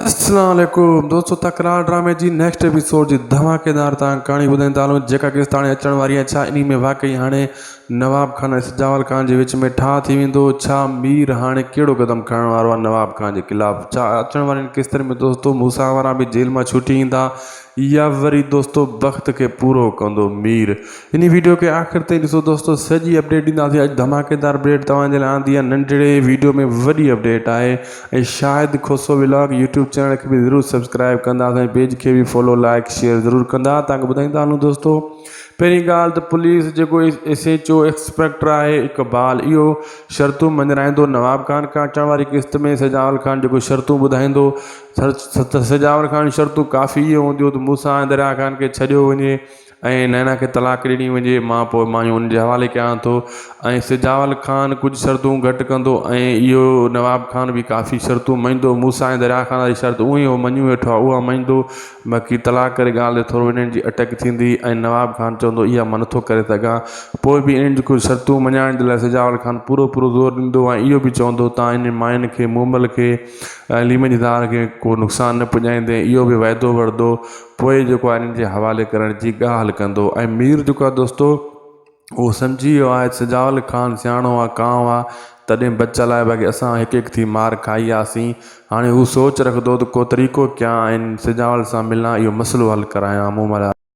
السلام عليڪم دوستو تڪرار ڊرامي جي نيڪسٽ ايپيسوڊ جي ڌماڪيدار تان ڪهاڻي ٻڌائين ٿا هلون جيڪا قسط هاڻي اچڻ واري آهي ڇا انهي ۾ واقعي هاڻي نواب خان ۽ سجاول خان جي وچ ۾ ٺاهه ٿي ويندو ڇا مير هاڻي ڪهڙو قدم کڻڻ وارو آهي نواب خان جي خلاف ڇا اچڻ وارين قسطن ۾ دوستو موسيٰ وارا به جيل مان ڇٽي ايندا يا وري دوستو بخت کي پورو ڪندو مير. انهي ويڊيو کي آخر تائين ڏسو دوستو سڄي اپڊيٽ ڏينداسين اڄ ڌماڪيدار اپڊيٽ توهان جي لاء آندي آهي ننڍڙي ويڊيو ۾ وڏي اپڊيٽ آهي ۽ Shahid Khoso vlog YouTube channel کي به ضرور سبسڪرائب ڪنداس ۽ پيج کي به فالو لائيڪ شيئر ضرور ڪندا توهان کي ٻڌائيندا هلون دوستو پهرين ڳالهه ته پوليس جيڪو ايس ايچ او ايڪسپيڪٽر آهي اقبال اهو شرطون مڃرائيندو نواب خان کان اچڻ واري قسط ۾ سجاول خان جيڪو شرطون ٻڌائيندو سجاور کان شرطون ڪافي اهي هونديون ته موسيٰ ۽ درياهه خان کي ڇڏيو وڃي ۽ نينا کي طلاق ڏني وڃي مان پوء مايون ان جي حوالي ڪيان ٿو ۽ سجاول خان ڪجهه شرطون گهٽ ڪندو ۽ اهو نواب خان به ڪافي شرطون مڃيندو موسيٰ ۽ درياهه خان واري شرط اهي هو مڃي ويٺو آهي اها مڃيندو باقي طلاق واري ڳالهه تي ٿورو انهن جي اٽڪ ٿيندي ۽ نواب خان چوندو اها مان نٿو ڪري سگهان پوء به انهن جي ڪجهه شرطون مڃائڻ جي لاء سجاول خان پورو پورو زور ڏيندو ۽ اهو به چوندو تان انهن ماين کي مومل کي عليم جي ڌار کي ڪو نقصان نه پڄائيندين اهو به وعدو وردو پوء جيڪو آهي انهن جي حوالي ڪرڻ جي ڳالهه ڪندو ۽ مير جيڪو آهي دوستو اهو سمجهي ويو آهي سجاول خان سياڻو آهي ڪانء آهي تڏهن بچ لاء باقي اسان هڪ هڪ ٿي مار کائي آياسين هاڻي هو سوچ رکندو ته ڪو طريقو ڪيان ۽ سجاول سان ملان اهو مسئلو حل ڪرايان مون ملهار